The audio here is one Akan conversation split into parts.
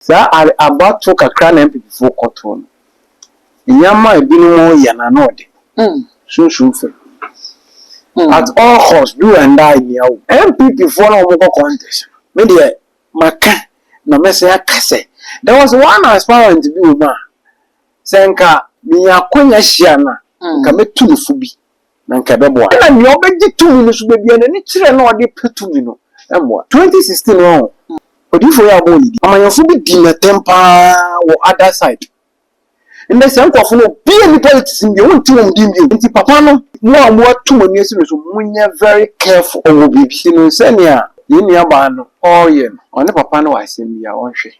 Saa are abatow kakra na Mpipifo kɔtow no. Nneɛma a binom yɛ no ano de, sunsum fɛ. At all costs, do and die nea wo. Mpipifo na wɔkɔ contest no. Me deɛ, maka na mɛsan aka sɛ, there was one aspirant bi wom a, sɛ anka minya akwanya hyia no a, anka mɛtu no fo bi. na anka ɛbɛboa. Ɛna nea ɔbɛgye tumi no so da biara n'ani kyerɛ na ɔde pɛ tumi no mmoa. Twenty sixteen no ɔho odiyifoɔ yi a ɔbɔɔ ne din. Amanyɔfoɔ bi di no atɛm pa ara wɔ other side. Ndɛ saa nkorɔfoɔ no obi nni politics mu bio, wonte wɔn din bio. Nti papa no mo a mo ato mo ani asi no so monyɛ very careful wɔ biribi. Ti no sɛnea yɛn nua baa no ɔreyɛ no ɔne papa no wɔ asɛm bi a ɔnhwɛ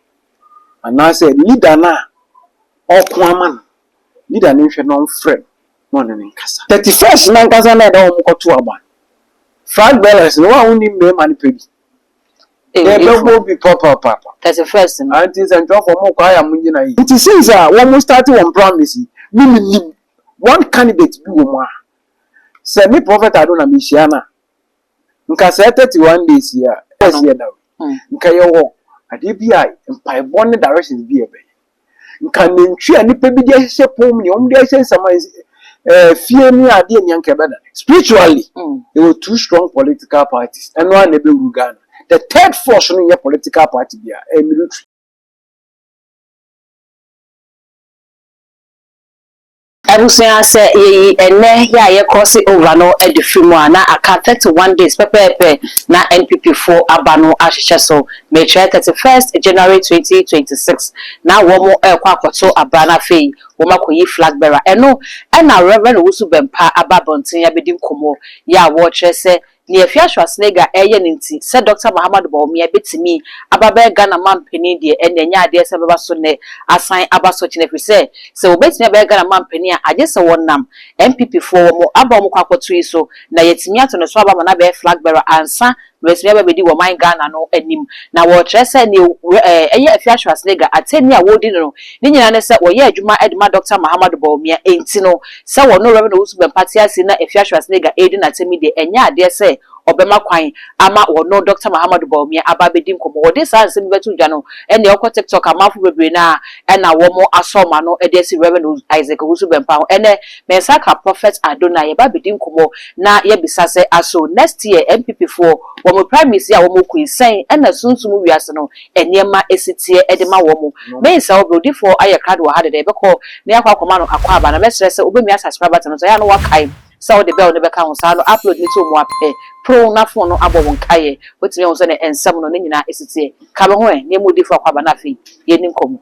anaasɛ leader no a ɔko ama no. Yuda no nhwɛ na ɔmfrɛ no na ɔne no nkasa. Thirty first no ankasa na ɛda wɔn kɔto aba. Flag bearers no, wo a wonni mmarima no pɛ bi. Ew, Yɛbɛbɔ efo. bi papaapa. Thirty first no. Auntie nsɛntwerɛfoɔ mo kɔ ayɛ a mo gyina yie. Nti since a wɔn start wɔn primaries yi, me me nim one candidate bi wɔ mu a, sɛ me Prophet Ado na me hyia no a, nka saa 31 days yi a ɛsɛ yɛ da nka yɛwɔ adeɛ bi a mpaebɔ ne directions bi a ɛbɛyɛ nka nantwi a nipa bi de ahyehyɛ pɔn mu nea wɔn de ahyehyɛ nsama ɛɛ fie ne adeɛ nea nka ɛbɛda spiritually yɛwɔ two strong political parties ɛno ara na ɛbɛwuru Ghana the third force no nyɛ political party bi a ɛyɛ military. Abusua, sɛ yeyi ɛnnɛ yɛ a yɛkrɔse over no de firi mu a, na aka thirty one days pɛpɛɛpɛ na NPP foɔ aba no ahyehyɛ so, mekyerɛ thirty first January twenty twenty six na wɔn rekɔ akɔto aba na afei wɔn akɔyi flag bearer, ɛno na Rev Owusu Bɛmpa aba abɔnten abɛdi nkɔmmɔ yɛ a wɔrekyerɛ sɛ Nea Fiya Schwarzenegger reyɛ no nti, sɛ Dɔkta Mahamadou Bawumia betumi aba abɛyɛ Ghana manpanin deɛ, ɛnneɛ ɛnyɛ adeɛ sɛ ɛbɛba so nnɛ, asan aba so kyena, ɛfiri sɛ, sɛ wɔbetumi abɛyɛ Ghana manpanin a, agye sɛ wɔnam NPPfoɔ wɔn aba a wɔkɔ akɔto yi so, na yɛatumi ato ne so aba ama no abɛyɛ Flag Bearer ansa na watumi aba abɛdi wɔman Ghana no anim. Na wɔrekyerɛ sɛ nea ɛyɛ Afia Schwarzenegger, atɛnni a wɔredi no no, ne nyinaa ne sɛ wɔyɛ adwuma de ma Dɔkta Mahamadou Bawumia, enti no, Sɛ wɔne Rev. Owusu Bɛmpa te ase na Afia Schwarzenegger redi n'asɛm yi deɛ, ɛnyɛ adeɛ sɛ wɔbɛma kwan ama wɔne Dɔkta Mahamadou Bawumia aba abɛdi nkɔmmɔ. Wɔde saa nsɛm yi bɛto dwa no, ɛnneɛ wokɔ TikTok a, amanfoɔ bebree no ara na wɔasɔ wɔn ano de asi Rev. Isaac Owusu Bɛmpa ho. Ɛnnɛ, me nsa aka Prophet Addo na yɛreba abɛdi nkɔmmɔ na yɛabisa sɛ, Aso next year NPPfoɔ wɔn primaries yi a wɔkɔ yi, sɛn na sunsum wiase no nneɛma si teɛ de ma wɔn. Mensɛ wo berɛwodifoɔ ayɛ krado wɔ ha dɛdɛ, yɛbɛkɔ na yɛakɔ akɔma no akwaaba anaa? Mɛsrɛ sɛ wobɛmia asase prabate no so, ɛyɛ a na woakae sɛ wode bell no bɛka ho, saa no upload no to mu a pɛ porow na fon no abɔ wo nkaeɛ. Woatumi ahu sɛdeɛ nsɛm no ne nyinaa si teɛ? Ka me ho ɛ, nneɛma odiyifoɔ akwaaba na afei yɛnni nkɔmmɔ.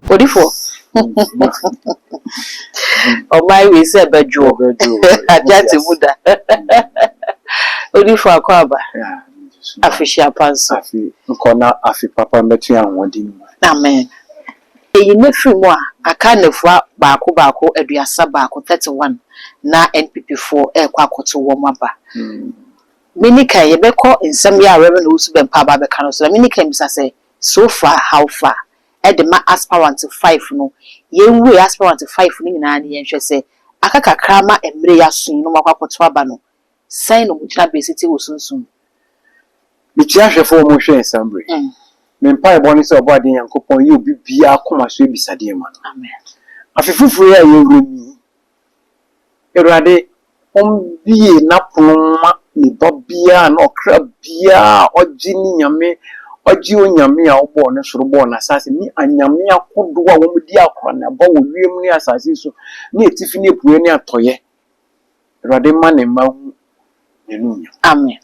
Odifo ɔman wei sɛ bɛdwoɔ agyate mu da Odifo Akwaaba afehyia pa nso. Afe nkɔ na afe papa mmɛto yɛn ahoɔden mu. Amen. Eyi nnɛ firi mu a, aka nnafua baako baako aduasa baako, thirty one, na NPP foɔ ɛrekɔ akɔto wɔn aba. Mini kan yɛbɛkɔ nsɛm yi a Rev. Owusu-Bempah aba abɛka no so na mini kan bisa sɛ, so far, how far? de ma aspirant five no. Yɛnwie aspirant five no nyinaa na yɛnhwɛ sɛ aka kakra ma mmerɛ yi aso yi na wɔakɔ akɔto aba no, sɛn na wɔn gyinabea si te wɔ sunsum mu? Mekyia ahwɛfo a wɔhwɛɛ saa bere yi. Me mpaebɔ ne sɛ Ɔbɔadeɛ Nyankopɔn yi obi biara koma so abisadeɛ ma no. Amen. Afe foforo yi a yɛwura mu yi, Awurade, ombue n'apon mma me ba biara na ɔkra biara a ɔgye ne Nyame, ɔgye Onyame a ɔbɔɔ ne soro bɔɔ n'asaase ne anyame ahodoɔ a wɔdi akɔneaba wɔ wiem ne asaase so ne atifi ne apueɛ ne atɔeɛ. Awurade mma ne mma nhu. n'anuonyam. Amen.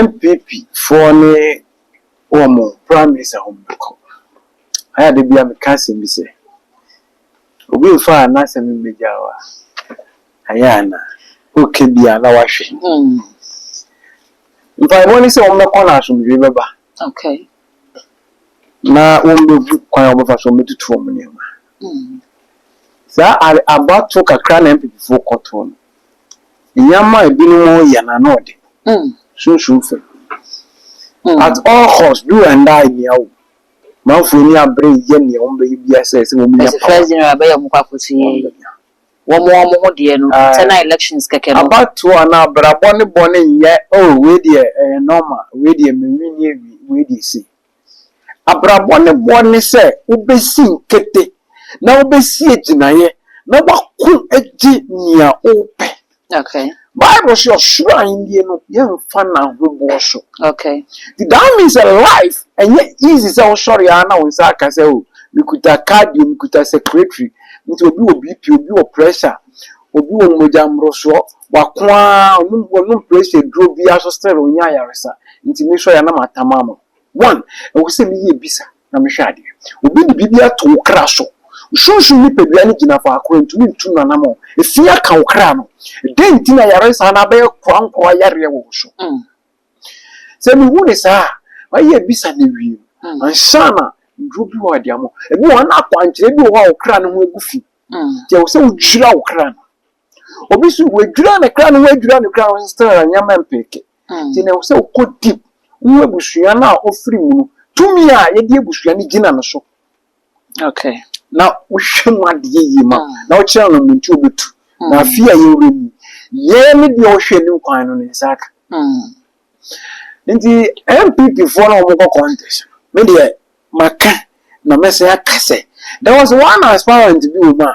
NPP foɔ ne wɔn prime minister hɔ mbɛkɔ. Ayɛ a da biara meka asɛm bi sɛ, obi mfa n'asɛm mmɛgya wo a, ayɛ a na woka bi a na wahwɛ. Mpaebɔ ne sɛ wɔn bɛkɔ na asomdwee bɛba. Okay. na wɔbɛhu kwan a wɔbɛfa so wɔbɛtutu wɔn nneɛma. Saa abatoɔ kakra na MPPfoɔ kɔtoɔ no, nneɛma a ebinom reyɛ no ano ɔde, sunsum fam. At all cost, do and die nea o, manfoɔ ani abere reyɛ nea wɔbɛyɛ biara sɛ ɛsɛ wɔnya power. wɔn wɔn ho deɛ no internal elections kɛkɛ no. Abatoɔ anaa abrabɔ ne bɔne nyɛ oh wei deɛ ɛyɛ normal wei deɛ me wini awie wei deɛ sei abrabɔ ne boɔ ne sɛ wobɛsi nkete na wobɛsi agyinaeɛ na wako agye nea wopɛ. Okay. Bible sɛ ɔsoro ahennie no yɛmfa no ahoboɔ so. Okay. That means a life ɛnyɛ easy sɛ wosɔre ara na wo nsa aka sɛ o mekuta cardio mekuta secretary nti obi wɔ BP obi wɔ pressure obi wɔ mogya mmorosoɔ wako ara ɔnom ɔnom pressure duro biara so still ɔnyɛ ayaresa nti mesɔre a na matam ama one ɛwɔ sɛ meyɛ bisa na mehwɛ adeɛ. Obi de biribi ato wo kra so. Wo sunsum nipadua no gyina faako a ɛntumi ntu n'anammɔn. Efi aka wo kra no. Dɛn nti na yareɛ saa no abɛyɛ korankorɔ yareɛ wɔ wo so? Mm. Sɛ mehu ne saa a, mayɛ abisa na awie no, mm. ansa na nnuro bi wɔ a de ama. Ebi wɔ hɔ na akwankyerɛ bi wɔ hɔ a wo kra no ho agu fi. Mm. Nti ɛwɔ sɛ wogyira wo kra no. obi nso wadwira ne kra ne ho adwira ne kra ho still na nneɛma mpeke nti na ɛwɔ sɛ wokɔ deep wo abusua no a ɔfiri mu no tumi a yɛde abusua no gyina no so okay na wohwɛ mu adeɛ yie ma na wokyerɛ no mu nti ɔbɛtu na afei a yɛwura mu yɛn ne deɛ ɔhwɛ anim kwan no ne nsa aka nti npp foɔ no wɔkɔ contest me deɛ maka na mɛsɛ aka sɛ there was one aspirant bi wɔ mu a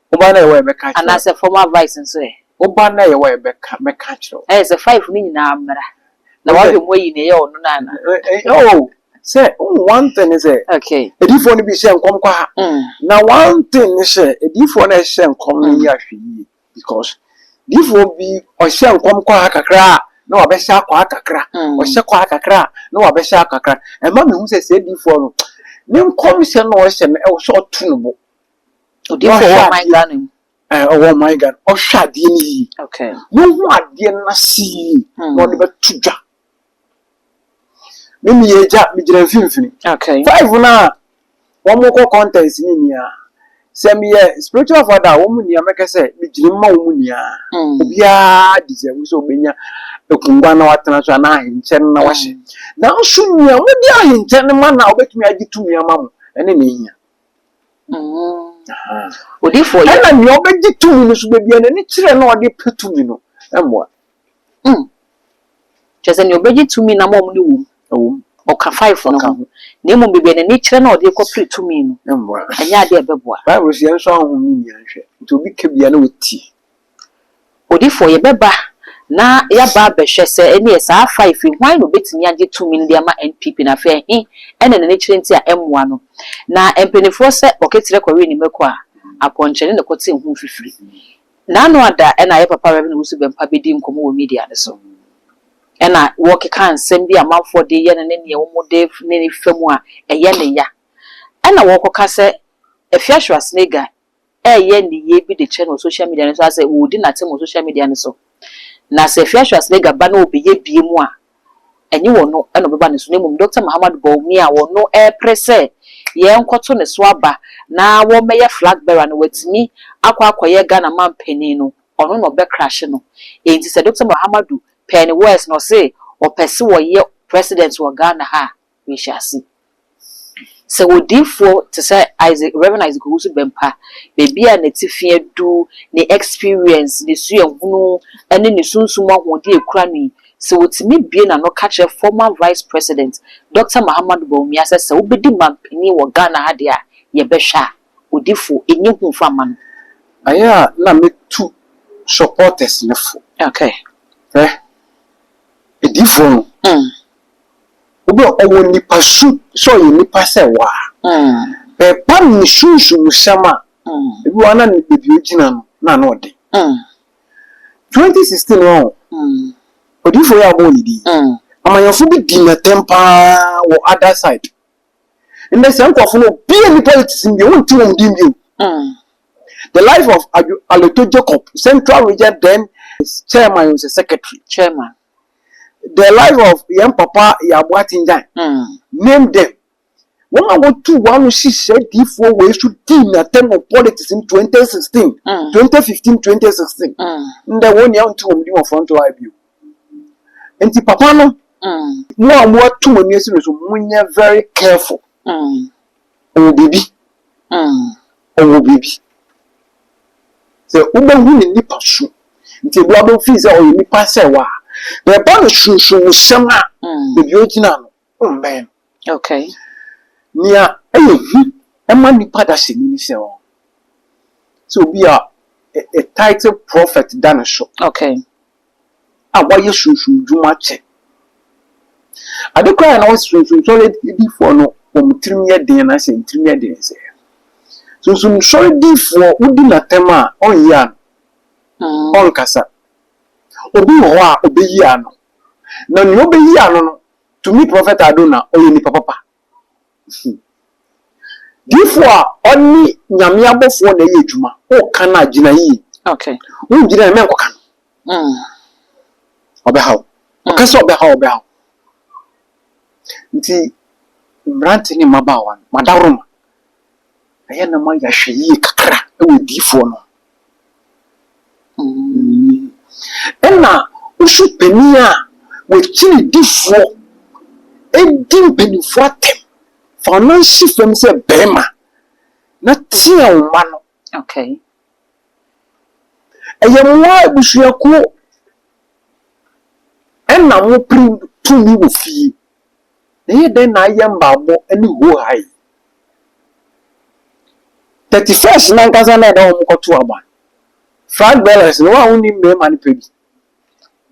Wo ba no a yɛwɔ a yɛbɛka akyerɛ wo. Anaasɛ formal advice nso ɛ? Wo ba no a yɛwɔ a yɛbɛka mɛka akyerɛ wo. Ayɛ sɛ five no nyinaa mmra. Na wahwɛ mu ayi nea ɛyɛ ɔno no anaa. Oh, sɛ oh one thing ne sɛ. Okay. Adiyifoɔ no bi hyɛ nkɔm kwa. Mm. Na one thing ne sɛ adiyifoɔ no a ɛhyɛ nkɔm no yɛ ahwɛ yie because diyifoɔ bi ɔhyɛ nkɔm kwa kakra a na wabɛhyɛ akwa kakra. Ɔhyɛ kwa kakra a na wabɛhyɛ akakra. Ɛma mehu sɛ sɛ adiyifoɔ no ne nkɔmhyɛ no a ɔhyɛ no ɛwɔ sɛ ɔto no bo. Odiyifoɔ ɔwɔ ɔman Ghana mu. Ɛɛ ɔwɔ ɔman Ghana mu. Ɔhwɛ adeɛ no yie. Okay. Wohu adeɛ no ase yie na ɔde bɛto dwa. Me meyɛ agya, megyina mfimfini. Okay. Five no a wɔkɔ contest no nyinaa, sɛ meyɛ spiritual father a, wɔn nyinaa mɛka sɛ megyina mu ma wɔn nyinaa. Mm. Obiara deserve sɛ ɔbɛnya akongua na watena so anaa ahenkyɛ no na wahyɛ. Mm. Nanso nea wɔde ahenkyɛ no ma no a wɔbɛtumi agye tumi ama mo, ɛne na ehia. Ɛna nea ɔbɛgye tumi no so da biara n'ani kyerɛ na ɔde pɛ tumi no mmoa. Mm. Kyerɛ sɛ nea ɔbɛgye tumi nam a wɔn ne wom. Ɛwom. Ɔka five no ho. Na mmom baabi a n'ani kyerɛ na ɔde rekɔpere tumi no. Mmoa. Ɛnyɛ ade a ɛbɛboa. Bible se yɛnsɔ ahonhom no nni anhwɛ. Nti obi ka bi a na watie. Odifoɔ, yɛbɛba na yɛaba abɛhwɛ sɛ ɛneɛ saa five yi hwan na obɛtumi agye tumi no de ama NPP no afei ɛhe ɛna n'ani kyerɛ nti a ɛmmoa no. Na mpaninfoɔ sɛ Ɔketerɛ kɔwee ne mako a, Apɔnkyɛ ne na kɔte ne ho mfifiri. Na ano ada ɛna yɛ papa Rev Owusu Bɛmpa bɛdi nkɔmmɔ wɔ media no so ɛna wɔkeka nsɛm bi a amanfoɔ de yɛ no ne neɛ wɔn de ne ne fa mu a ɛyɛ ne ya. Ɛna wɔkɔka sɛ Afiahyira Snake Guy reyɛ nneyɛe bi de kyerɛ no wɔ social media no so anaasɛ ɔredi n'atem wɔ social media no so. Na sɛ Fiasho Aslega ba na ɔbɛyɛ bie mu a, ɛnyɛ ɔno na ɔbɛba ne so na mmom Dɔkta Mahamat Bawumia a ɔno repere sɛ yɛnkɔto ne so aba na wɔmmɛyɛ flag bearer na watumi akɔ akɔyɛ Ghana manpanin no, ɔno na ɔbɛkrahye no. Enti sɛ Dɔkta Mahamadu pɛɛ ne words na ɔse ɔpɛse ɔyɛ President wɔ Ghana ha a, nhyɛase. Sɛ odiyifoɔ te sɛ Isaac, Rev. Isaac Owusu Bɛmpa, baabi a n'atifi adu, ne experience, ne suahunu, ne ne sunsum ahoɔden a ɛkura no yi, sɛ ɔtumi bue n'ano ka kyerɛ former Vice President, Dɔkta Mahamadou Bawumia sɛ, sɛ wobɛdi manpanin wɔ Ghana ha deɛ a, yɛbɛhwɛ a, odifoɔ, ɛnyɛ hu mfa mma no. Ɛyɛ a na mɛtu supporters no fo. Okay. Hwɛ, adiyifoɔ no. Mm. Obi a ɔwɔ nipa su sɛ ɔyɛ nipa sɛ wo a, bɛ pam ne sunsumsɛm a, ebi wɔ hɔ a na ne baabi ogyina no na ano ɔde. 2016 no ɔho, odiyifo yi a ɔbɔɔ ne din, amanyɔfo bi di n'atɛm paa wɔ other side. Ndɛ saa nkorɔfo no obi nni politics mu bio, wonte wɔn din bio. The life of Adwo Aloto Jacob, Central Region then Chairman ɔsɛ Secretary. Chairman. The life of yɛn papa Yaabo Atingyan, name them. Wɔn a wɔtu wɔn ano si saa diifoɔ wei so dii n'atɛm wɔ politics mu 2016, 2015, 2016. Ndɛ wɔn nyinaa nte wɔn din wɔ front line bio. Nti papa no, mo a moatu mo ani asi no so, monyɛ very careful. Ɔwɔ biribi, ɔwɔ biribi. Sɛ wobɛhu ne nipa su, nti ebi wabɛ fii sɛ ɔyɛ nipa sɛ wa, na ɛba no sunsun mu sɛm a, baabi a ogyina no, wommɛn no. Okay. Nea ɛyɛ hu ɛma nipa dasani ne sɛ ɔ, sɛ obi a, a title prophet da ne so. Okay. a wɔayɛ sunsumdwuma kyɛ. Ade koraa a na wɔse sunsumsɔre difoɔ no wɔn tirim yɛ den anaa sɛ wɔn tirim yɛ den sɛ sunsumsɔre difoɔ wodi n'atɛm a ɔnyi ano, ɔnkasa. Obi wɔ hɔ a ɔbɛyi ano, na nea ɔbɛyi ano no tumi prɔfɛta ado na ɔyɛ nipa papa. su. Difoɔ a ɔne Nyame abɔfoɔ na ɛyɛ adwuma, woka no a, gyina yie. Wongyina yie a, mɛnkɔka no. Ɔbɛha wo. Ɔka sɛ ɔbɛha wo, ɔbɛha wo. Nti, mmerante ne mmabaawa no, madaworo mo. Ɛyɛ na moayɛ ahwɛ yie kakra wɔ adiyifoɔ no mu. Ɛna osu panin a wɔakyiri difoɔ di mpanimfoɔ atɛm fa wɔn nan si fam sɛ barima na tea wo mma no. Okay. Ɛyɛ mo ara abusuakuo ɛna mopere tumi wɔ fie. na ɛyɛ dɛn na ayɛ mmaabɔ ne hoohaa yi? Thirty first no ankasa na ɛda wɔn kɔto aba. Flag bearers no, wɔn a wɔnni mmarima no pɛ bi.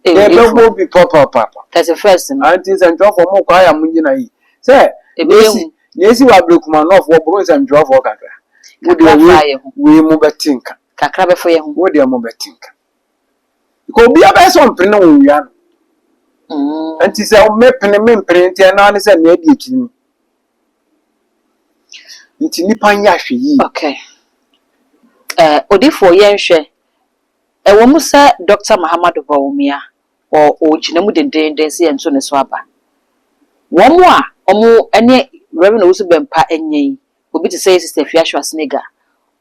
Ee, Na ɛbɛbɔ efo. bi papaapa. Thirty first no. Anti nsɛntwerɛfoɔ mo kwa ya mo nyina yi. Sɛ Ebi yɛ nesi hu. nesi wɔ abirikuma nɔfo wɔboro nsɛntwerɛfoɔ kakra. Mo Kakra deɛ fa wei yɛ hu. wei mo bɛte nka. Kakra bɛfo yɛ ho. Wo deɛ mo bɛte nka. Because obiara bɛyɛ sɛ ɔmpene na wɔnwia no. Mm. Nti sɛ mepene mempene nti ɛno ara ne sɛ nea adi akyiri no. Nti nnipa nyɛ ahwɛ yie. Okay. Uh, odifoɔ yɛnhwɛ. Ɛwɔ mu sɛ Dr. Mahamadou Bawumia ɔgyina mu dendeenden sɛ yɛnto ne so aba. Wɔn a wɔn ne Reverend Owusu Bɛmpa nyɛ yi, Obi te sɛ Sister Afia Schwarzenegger,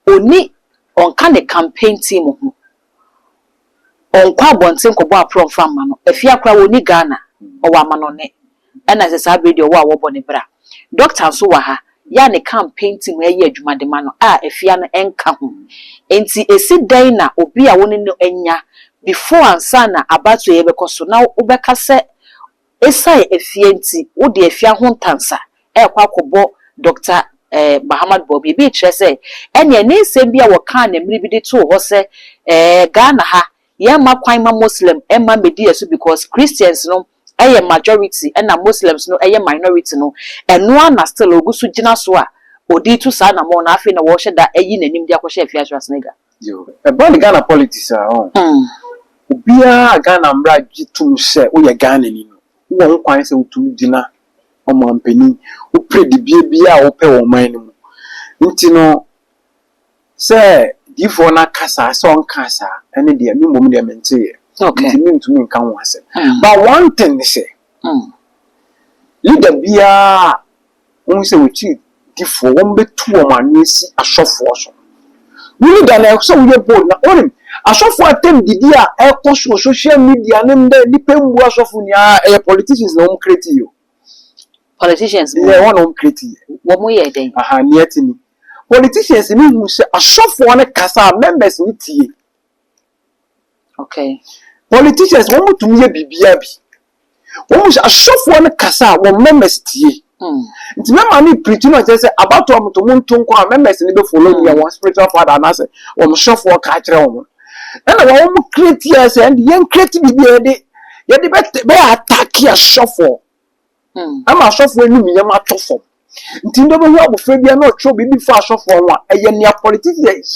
onni, ɔnka ne campaign team ho, ɔnkɔ abɔnten nkɔbɔ aprɔ mfa mma no. Afia koraa wɔnni Ghana, ɔwɔ amanɔnne, ɛna sɛ saa berɛ yi deɛ ɔwɔ a wɔbɔ ne bra. Doctor nso wɔ ha, yɛ a ne campaign team ɛreyɛ adwuma de ma no a Afia no nka ho. Enti ɛsi dɛn na obi a wo ne no anya before ansa na abatoɔ yi ɛbɛkɔ so na wobɛka sɛ Esiane afia nti, wode afia ho ntansa rekɔ akɔbɔ Dɔkta Mahamat Bawumia. Ebi rekyerɛ sɛ, ɛnneɛ ne nsɛm bi a wɔkaa no mmere bi de too hɔ sɛ, Ɛɛ, Ghana ha, yɛmma kwan mma Muslim mma mmɛdi yɛn so because Christians no yɛ majority ɛnna Muslims no yɛ minority no, ɛno ara na still ɔgu so gyina so a ɔde retu saa anammɔn no, afei na wɔrehyɛ da ayi n'anim de akɔhyɛ afiase wɔ Senegal. Yoo ɛba ne Ghana politics a ɔho obiaa a Ghana mmra gye tom sɛ woyɛ Ghanani no wowɔ ho kwan sɛ wotumi gyina ɔmanpanin wopere dibea biaa a wopɛ wɔ ɔman no mu nti no sɛ diifoɔ no aka saa sɛ ɔnkaa saa ɛne deɛ me mmom deɛ menteeɛ nti me ntumi nka ho asɛm but one thing ne sɛ leader biaa Wohu sɛ wɔkyiri difoɔ, wɔbɛtu wɔn ano asi asɔfoɔ so. Wonni da na ɛwɔ sɛ woyɛ bold na wonim asɔfoɔ atam didi a ɛkɔ so wɔ social media ne ndɛ nnipa mbu asɔfo ni aa ɛyɛ politicians na wɔn create yɛ o. Politicians mu. Yɛ wɔn na wɔn create yɛ. Wɔn yɛ dɛn? Aha nea ɛte ni politicians ni hu sɛ asɔfoɔ no kasa a members no tie. Okay. Politicians, wɔn tumi yɛ biribiara bi. Wɔn hyɛ asɔfoɔ no kasa a wɔn members tie. Hmm. Nti mɛma ne pirikyi no kyerɛ sɛ abatoɔ mo to mo nto nkɔ a members no bɛ follow nea wɔn spiritual father anaasɛ wɔn sɔfoɔ ka akyerɛ wɔn. Ɛna wɔn wɔn create yɛ sɛ ɛnde yɛn create biribi a yɛde yɛde bɛ bɛ attack asɔfoɔ. Hmm. Ɛma asɔfoɔ anim yɛn atɔ fam. Nti ndɛ wobɛhu abɔfra biara na ɔtwerɛ biribi fa asɔfoɔ ho a, ɛyɛ nea politicians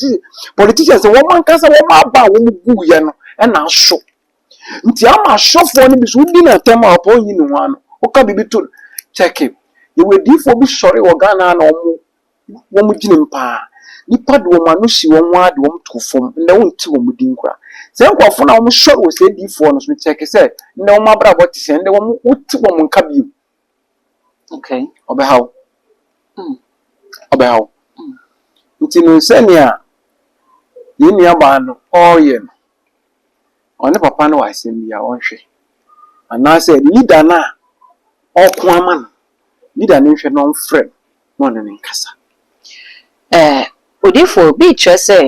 politicians wɔn ankasa wɔn aba a wɔn guiɛ no na aso. Nti ama asɔfoɔ no bi so wodi no atɛm a ɔpɛ ɔnyi ne ho ano. Woka biribi to no, kyɛke. Yɛwɔ adiyifoɔ bi sɔre wɔ Ghana ha na wɔn wɔn gyenem paa. Nnipa de wɔn ano si wɔn ara de wɔn too fam. Ndɛ wonte wɔn din koraa. Saa nkurɔfoɔ no a wɔsɔre wɔ saa adiyifoɔ no so no kyɛke sɛ ndɛ wɔn abrabɔ te sɛn. Ndɛ wɔn wote wɔn nka bio. Okay. Ɔbɛha wo. Mm. Ɔbɛha wo. Mm. Nti no sɛnea yɛn nuabaa no ɔreyɛ no, ɔne papa no wɔ asɛm bi a ɔnhwɛ. Anaasɛ leader no a ɔko ama no, leader no nhwɛ na ɔmfrɛ no na ɔne no nkasa. Eh, odifo, bi kyerɛ sɛ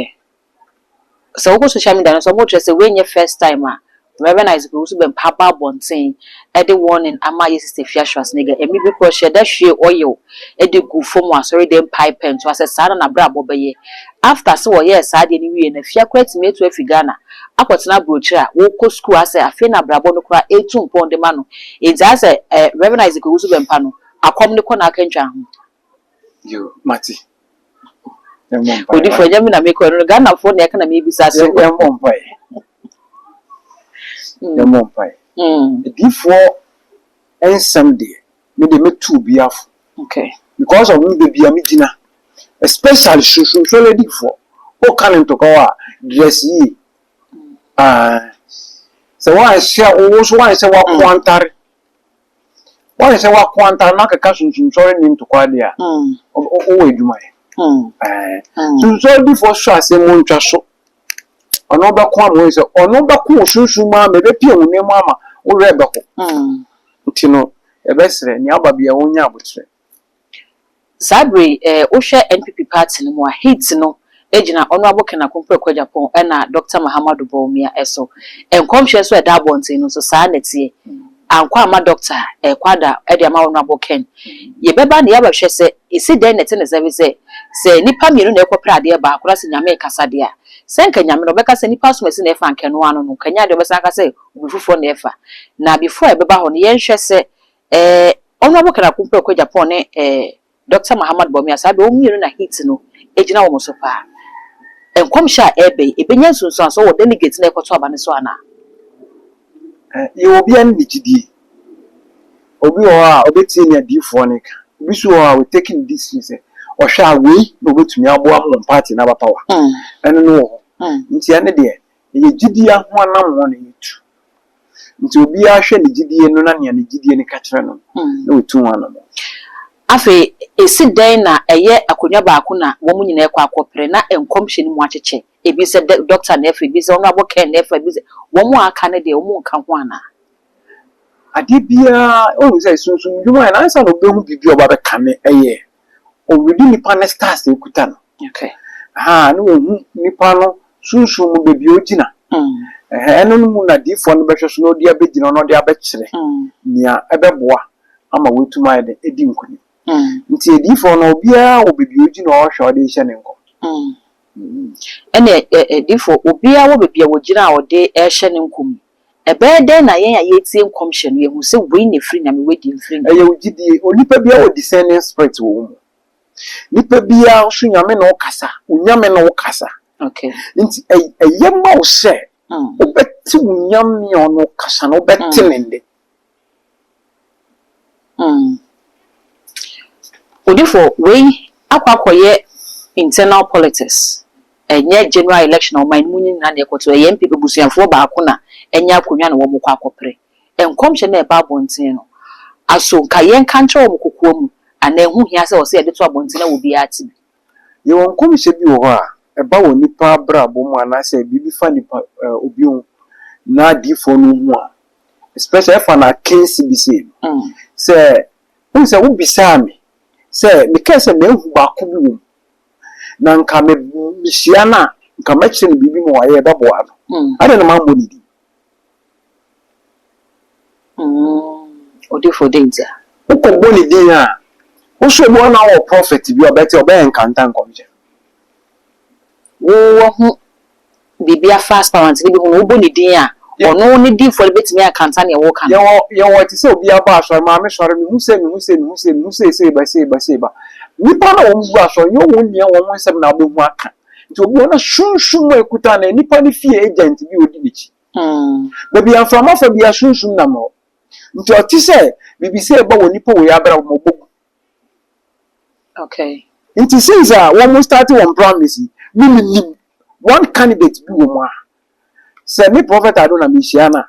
sɛ wokɔ social media no sɛ wɔkyerɛ sɛ wei nyɛ first time a, Reverend Isaac Owusu Bempah aba abɔnten de warning ama yɛn Sister Afia Schwarzenegger, ɛme bi koraa ɔhyɛɛ da hwiee oil de guu fam wɔ asɔredan mpae pɛntoa sɛ saa na n'abrabɔ bɛyɛ. After sɛ ɔyɛɛ saa adeɛ no wieeɛ no Afia koraa tumi atu afi Ghana akɔtena aburokyire a ɔkɔ sukuu asɛ afei na abrabɔ no koraa retu mpɔn de ma no. Enti ayɛ sɛ Reverend Isaac Owusu Bempah no akɔm no kɔ n'akantwa ho. Yo, mate. Yɛmmɔ mpaeɛ. Odifoɔ, ɛnyɛ me na mekɔ ɛno no, Ghanafoɔ na ɛka na mebisa so. Yɛmmɔ mpaeɛ. Yɛmmɔ mpaeɛ. Adiyifoɔ nsɛm deɛ, me deɛ mɛtu obiara fo. Okay. Because of me baabi a megyina, especially Sunsum Sɔre Adiyifoɔ, woka no ntɔkwaw a, dress yie. Aah. Sɛ woanhyɛ, wo nso woanhyɛ w'akoantare. Woahwɛ sɛ wako antaa na akeka sunsumsɔre ne ntokwa de a, wowɔ adwuma yɛ. Sunsɔre difoɔ sɔ asɛm mu ntwa so. Ɔno bɛko ama woahu sɛ ɔno bɛko wo sunsum mu ama ɛbɛpia wo nan mu ama wo werɛ bɛho. Nti no yɛbɛsrɛ nea aba biara ɔnya aboterɛ. Saa bere yi eh wo hwɛ NPP party no mu a heat no gyina Honourable Ken Akompreko Agyapong ɛna Doctor Mahamadou Bawumia so. Nkɔmhyɛ nso a ɛda abɔnten no nso saa ara na ɛteɛ. Ankɔ amma Doctor ɛrekɔ ada de ama Honourable Ken. Yɛbɛba na yɛaba hwɛ sɛ ɛsi dɛn na ɛte ne sɛ efisɛ sɛ nnipa mmienu na ɛrekɔpere adeɛ baako na sɛ Nyame rekasa deɛ a sɛ anka Nyame no ɔbɛka sɛ nnipa asomasi na ɛfa anka ɛno ara no no nka ɛnyɛ adeɛ a ɔbɛsan aka sɛ obi foforɔ na ɛfa. Na before ɛbɛba hɔ no yɛnhwɛ sɛ Eh, Honourable Ken Akumpeh Okwejapan ne eh, Doctor Mahamat Bawumia, saa bere wɔn mmienu na heat no gyina wɔn so paa. Nkɔmhyɛ a ɛreba yi, ɛbɛnya nsunsuansoɔ wɔ delegate no a ɛrekɔto aba no so anaa? Eh, yɛ wɔ obiara ne ne gyidie. Obi wɔ hɔ a, ɔbɛtie nea adiyifoɔ no reka. Obi nso wɔ hɔ a, wɔ take ne decision sɛ, ɔhwɛ a, wei na ɔbɛtumi aboa ma wɔn party no aba power. Mm. Ɛno no wɔ hɔ. Mm. Nti ɛno deɛ, Ɛyɛ gyidie ho anammɔn na yɛtu. Nti obiara hwɛ ne gyidie no na nea ne gyidie no ka kyerɛ no na ɔtu ho anammɔn. Afei, ɛsi dɛn na ɛyɛ akonnwa baako na wɔn nyinaa rekɔ akɔpere na nkɔmhyɛ no mu akyekyɛ? Ebi sɛ dɛ Dɔkta na ɛfa, ebi sɛ Honourable Ken na ɛfa, ebi sɛ wɔn a aka no deɛ wɔnka ho anaa? Adeɛ biara, wohu sɛ sunsum dwuma yɛ no ansa na wobɛhu biribi a wɔba abɛkane ɛyɛ ɔredi nipa no stars a ɛkuta no ahaa ne ɔhu nipa no sunsum mu baabi a ɔgyina ɛhɛɛ ɛno no mu na diifoɔ no bɛhwɛ so na ɔde abɛgyina na ɔde abɛkyerɛ nea ɛbɛboa ama wɔatumi ayɛ dɛ adi nkunim nti adiifoɔ no obiara wɔ baabi a ɔgyina a ɔhwɛ a ɔde rehyɛ ne nkɔm. Ɛnna adiifoɔ obiara wɔ baabi a ɔgyina a ɔde rehyɛ ne nkɔm yi. Ɛbɛyɛ dɛn na yɛn a yɛretie nkɔmhyɛ no yɛahu sɛ wei na ɛfiri Nyame, wei deɛ ɛmfiri Nyame? Ɛyɛ wo gyidie. Onipa biara wɔ discerning spirit wɔ wo mu. Nipa biara nso Nyame ne wo kasa, Onyame ne wo kasa. Okay. Nti ɛyɛ ma wo sɛ wobɛte Onyame a ɔne wo kasa no, wobɛte ne nne. mm. Odifo, wei akɔ akɔyɛ internal politics, ɛnyɛ general election a ɔman no mu nyinaa na ɛkɔto, ɛyɛ MP abusuafoɔ baako na anya akonnwa na wɔn kɔ akɔpere. Nkɔmhyɛ no a ɛba abɔnten no, aso nka yɛnka nkyerɛ wɔn kokoa mu anaa ɛho hia sɛ ɔsɛ yɛde to abɔnten na obiara te bi? Yɛwɔ nkɔmhyɛ bi wɔ hɔ a, ɛba wɔ nnipa abrabɔ mu anaasɛ biribi fa nnipa ɛɛ obi ho na adiyifoɔ no hu a, especially ɛfa no akansi bi sei no, sɛ wohu sɛ wobisaa me sɛ mekae sɛ mahu baako bi wɔ mu na nka me mehyia no a, nka mɛkyerɛ no biribi ma wayɛ ɛbɛboa no. Adɛn na mammɔ ne din? Mm, odifo dɛn nti a? Wokɔ bɔ ne din a, wo so obi hɔ na wɔ prophet bi a ɔbɛte ɔbɛ encounter nkɔmhyɛ. Wo wahu biribi afa aspirant no bi ho na wobɔ ne din a, ɔno ne difo no bɛtumi encounter nea woka no. Yɛwɔ yɛwɔ te sɛ obi aba asɔre, maame sɔre, mehu sɛ, mehu sɛ, mehu sɛ, mehu sɛ sei ba, sei ba, sei ba. Nnipa no a wɔn gu asɔre nyɛ wɔn nua wɔn nsɛm na wobɛhu aka. Nti obi wɔ hɔ na sunsum mu a ekuta no, nipa no fie agent bi a odi n'akyi. Baabi a mframa fa biara sunsum nam hɔ. Nti ɔte sɛ biribi sɛ ɛba wɔ nipa wei abrabɔ mu a, ɔbɔ gu. Okay. Nti since a wɔn start wɔn primaries yi, me menim one candidate bi wɔ mu a, sɛ me Prophet Ado na mehyia no a,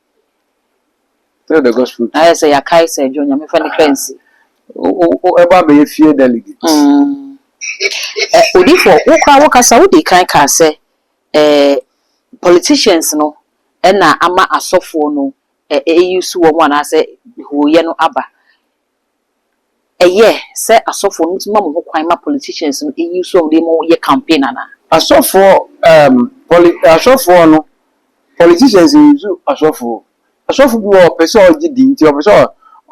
Tell the gospel. Ayɛ sɛ yɛakae sɛ adwo nyame fa nipa nsi. Ɛbɔ abɛyɛ fie delegate. Mm. Eh, odifo, wo kora wo kasa wo di kan kaa sɛ eh, politicians no ɛna ama asɔfoɔ no eh, eyi so wɔn anaasɛ hooyɛ no aba. ɛyɛ sɛ asɔfoɔ no tumi ma mo ho kwan ma politicians no ɛyi so a wɔde mo yɛ campaign anaa? Asɔfoɔ ehm poli asɔfoɔ no politicians nyisu asɔfoɔ asɔfo bi wɔ hɔ ɔpɛ sɛ ɔgye din nti ɔpɛ sɛ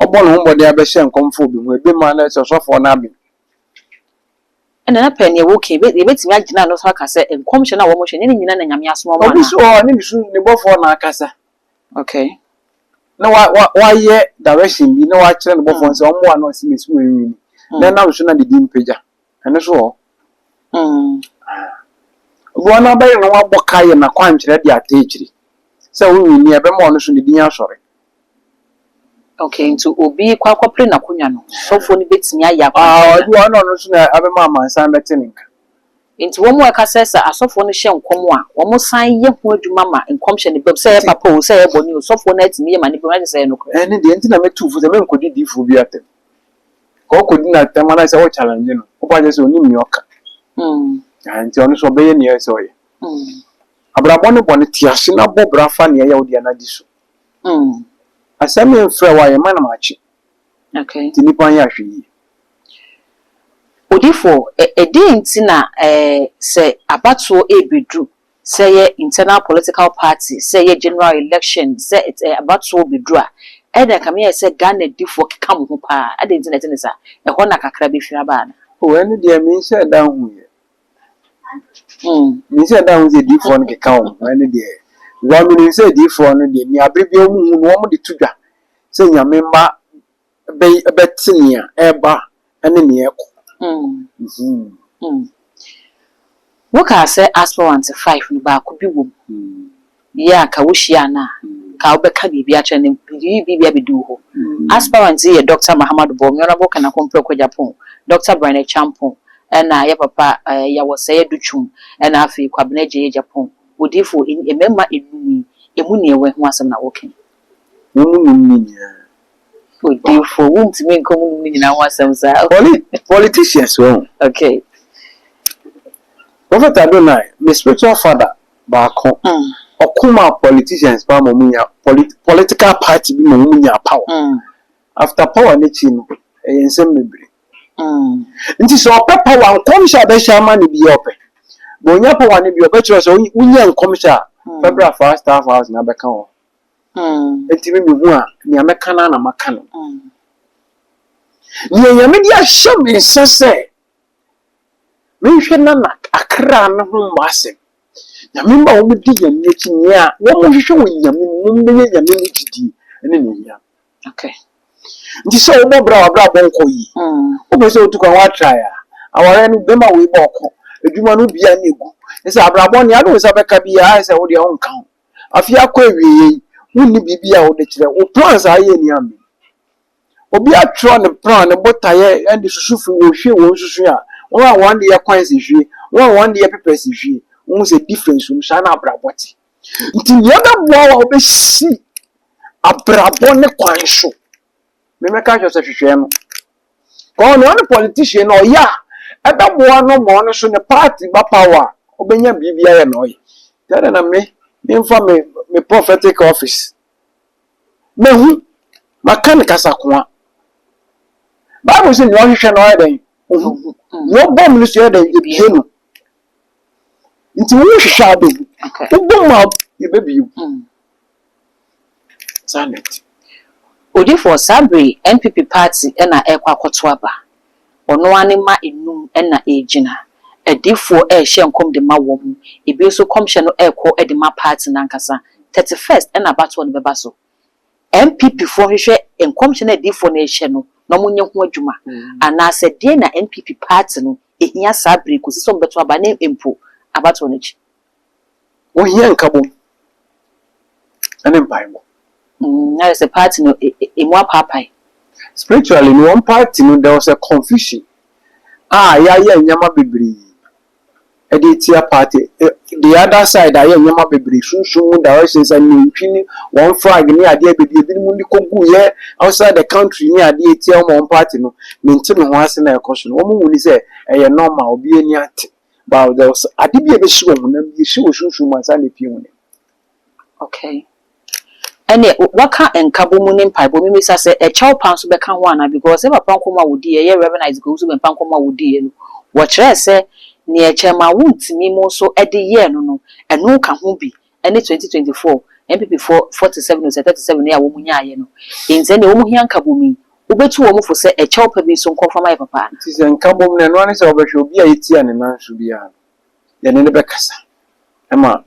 ɔbɔ ne ho mmɔden abɛhyɛ nkɔm fa obi ho ɛbi ma na sɛ ɔsɔfoɔ no aben. Ɛna na pɛ neɛ wo ka yi yɛbɛtumi agyina ano nso aka sɛ nkɔmhyɛ no a wɔhyɛ nyɛ ne nyina na Nyame asoma wɔn anaa? Obi nso wɔ hɔ a ne nsu ne bɔfoɔ na akasa Okay. Na wa wa wayɛ direction bi na wakyerɛ ne bɔfoɔ sɛ ɔmmoa na ɔsi mesi wɔn nwini. Na ɛnam so na ne din pagya. Ɛno so wɔ hɔ. Obi wɔn abɛyɛ na wabɔ ka yɛ n'akwankyerɛ de ata akyiri sɛ wo nwini ɛbɛma ɔno so ne din asɔre. Okay, nti obi kɔ akɔpere n'akonnwa no, sɔfoɔ no bɛtumi ayɛ akwankyerɛ no? Ah, obi wɔn na ɔno so na abɛma amansan bɛte ne nka. Enti wɔn a ɛka sɛ sɛ asɔfoɔ no hyɛ nkɔm a, wɔsan yɛ ho adwuma ma nkɔmhyɛ no bam, sɛ ɛyɛ papa oo, sɛ ɛyɛ bɔne oo, sɔfoɔ no atumi yɛ ma no bam, na kyerɛ sɛ ɛyɛ nokorɛ. Ɛno deɛ nti na metuu fo sɛ menkɔdi diifoɔ bi atɛm. Ka ɔkɔdi no atɛm anaasɛ wo challenge no, wobɛka akyerɛ sɛ ɔnim nea ɔka. Ahaa, enti ɔno nso ɔbɛyɛ nea ɛsɛ sɛ ɔyɛ. Abrabɔ ne bɔne, te ase na bɔ bra fa nea ɛyɛ wo dea no di so. Asɛm yi mfrɛ wo a, yɛma no makye. Nti nnipa nyɛ ahwɛyie. Odiyifoɔ, ɛdeɛn nti na sɛ abatoɔ rebɛduru, sɛ ɛyɛ internal political party, sɛ ɛyɛ general election, sɛ abatoɔ bɛduru a, ɛnna ɛkame ayɛ sɛ Ghanadifoɔ keka mo ho pa ara, adɛn nti na ɛte ne saa? Ɛhɔ na kakra bɛfiri aba anaa? O, ɛno deɛ menhyɛɛ da nhuiɛ. Menhyɛɛ da nhuu sɛ adiyifoɔ no keka wɔn ho, ɛno deɛ, because menim sɛ adiyifoɔ no deɛ, nea berɛ biara wɔhu no, wɔde to dwa. sɛ Nyame mma bɛy bɛte nea ɛreba ne nea ɛrekɔ. Mm-hmm. Wokaa sɛ aspirant five no baako bi wom yɛ a nka wohyiaa no a nka wobɛka biribi akyerɛ no, biribi bi abɛdu wo hɔ. Aspirant yi yɛ Dɔkta Mahamadu Bawumia, Honourable Kanako Mpreko Agyapong, Dɔkta Brian Acheampong, ɛna yɛ papa ɛɛ Yawɔsɛe Adu Twum, ɛna afei Kwabena Gyei Agyapong. Odiyifo, eni mmarima nnum yi, emu nea ɛwɔ he ho asɛm na woreka yi? Wɔn mu nnum no nyinaa. Odiyifoɔ, wontumi nka wɔn nnum no nyinaa ho asɛm saa. Wɔne politicians wahu. Okay. Prophet Adonai, me spiritual father baako, ɔko maa politicians paa ma wɔnya polit political party bi ma wɔnyaa power. After power no akyi no, ɛyɛ nsɛm bebree. Nti sɛ ɔpɛ power, nkɔmhyɛ a ɛbɛhyɛ ama no biara ɔpɛ. But ɔnya power no bi a, ɔbɛkyerɛ wo sɛ wonyɛ nkɔmhyɛ a, fa bra fa staff house na bɛka wo ho. Enti me mehu a, nea mɛka no ara na maka no. Nea Nyame de ahyɛ me nsa sɛ menhwɛ Nana Akra no ho mmɔ asɛm. Nyame mma wɔmmɛdi Nyame akyi, nea wɔhwehwɛ wɔ Nyame mu, wɔmmɛnya Nyame mu gyidie ne N'anuonyam. Okay. Nti sɛ wobɔ bra a w'abrabɔ nkɔ yie, wopɛ sɛ wotu kwan woatrae a, awareɛ no bɛma wei bɔ ɔko, adwuma no wobiaa na ɛgu, ne sɛ abrabɔ nea wode wo nsa bɛka biaa ayɛ sɛ wodeɛ wonka ho. Afei akɔ awieeɛ yi, wonni biribi a wode kyerɛ. Wo plans a woyɛ nni amee. Obi atwerɛ ne plan, ne botaeɛ de susu firi wɔ hwie wɔn susu a, wɔn a wɔn de yɛ kwan sɛ hwie, wɔn a wɔn de yɛ pepɛ sɛ hwie. Wohu sɛ difference wɔ mu. Saa na abrabɔ te. Nti nea ɛbɛboa wo a wobɛsi abrabɔ ne kwan so. memɛka ahwɛ sɛ hwehwɛ no kɔɔ na ɔne politician na ɔyɛ a ɛbɛboa no ma ɔno so ne party ba power a ɔbɛnya biribi ayɛ na ɔyɛ nti ɛdɛ na me memfa me me prophetic office mahu maka ne kasa koa bible sɛ nea ɔhwehwɛ na ɔyɛ dɛn ohu nea ɔbɔ mu no so yɛ dɛn yɛbie no nti wohwehwɛ a wobɛhu wobɔ mu a yɛbɛbie mu Janet. Odifoɔ, saa bere yi NPP party na ɛrekɔ akɔto aba. Ɔno ara ne mma nnum na ɛregyina. Adiyifoɔ rehyɛ nkɔm de ma wɔn, ebi nso nkɔmhyɛ no rekɔ de ma party no ankasa. Thirty first na abatoɔ no bɛba so. NPP foɔ nhwehwɛ nkɔmhyɛ no a adiyifoɔ no rehyɛ no na wɔnyɛ ho adwuma. Anaasɛ deɛn na NPP party no hia saa bere yi kɔsi sɛ wɔbɛto aba ne mpo abatoɔ no akyi? Wohia nkabom ne mpaebɔ. Mm, ayɛ sɛ party no e, e, emu apaapae. Spiritually no, wɔn party no, there was a confusion a yɛayɛ nneɛma bebree ɛde atia party. Eh, the other side ayɛ nneɛma bebree sunsun mu direction sɛ nantwi ne wɔn flag ne adeɛ bebree ebinom de kogu yɛ outside the country ne adeɛ atia wɔn wɔn party no mente me ho ase na ɛkɔ so no wɔn mu ni sɛ ɛyɛ normal obi ani ate. Bowel dɛ ɔsɛ ade bi a ɛbɛsi wɔ honam mu, ɛsi wɔ sunsum mu ansa na ɛpue honam mu. Okay. Ɛneɛ waka nkabɔ mu ne mpaebɔ, mebisa sɛ ɛkyɛw pa nso bɛka ho anaa because yɛ papa nkɔmmɔ a wɔdiiɛ, ɛyɛ Rev. Isaac Owusu Bempah nkɔmmɔ a wɔdiiɛ no, wɔkyerɛɛ sɛ neɛ ɛkyɛɛ maa wontumi mo nso de yɛɛ no no, ɛno ka ho bi. ɛne twenty twenty four NPP foɔ forty seven ose thirty seven yi a wɔn nyaaeɛ no nti ɛnneɛ wɔn hia nkabom yi wobɛtu wɔn fo sɛ ɛkyɛw pa bi nso nkɔ mfa ma yɛ papa anaa? Nti sɛ nkabom no ɛno ara ne sɛ wobɛhwɛ obi a yɛtia ne nan so biara no yɛne no bɛkasa ɛma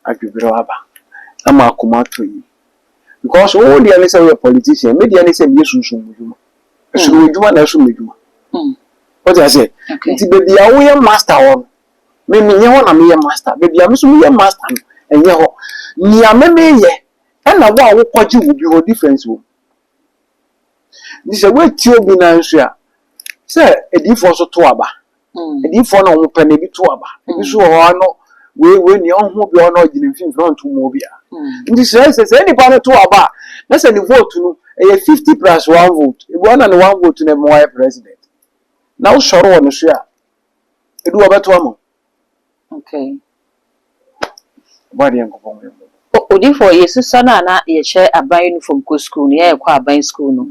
adweberɛw aba ama akoma atɔ yie because wo deɛ ne sɛ woyɛ politician me deɛ ne sɛ meyɛ sunsum mu dwuma ɛsono w'adwuma na ɛsom m'adwuma wote aseɛ nti baabi a woyɛ master wɔ no Me menyɛ hɔ na meyɛ master. Baabi a me nso meyɛ master no, ɛnyɛ hɔ. Nea me meyɛ na wo a wokɔgye wo bi hɔ, difference wom. Nti sɛ woatie obi no ara nso a, sɛ adiyifoɔ nso to aba. Adiyifoɔ no a wɔpɛ no, ebi to aba. Ebi nso wɔ hɔ a, ano wei wei nea ɔho obi a ɔno ɔgyina mfimfini a ɔnto mmoa obiara. Nti sɛ sɛ saa nipa no to aba a, na sɛ ne vote no ɛyɛ fifty plus one vote, ebi wɔ hɔ na ne one vote no bɛma wayɛ president. Na wosɔre wɔ ne so a, Edu a ɔbɛto ama wo. Okay. Bɔ adeɛ nkɔbɔ mu yɛn. Odifo yɛsusua no a na yɛhyɛ aban uniform kɔ sukuu no yɛkɔ aban sukuu no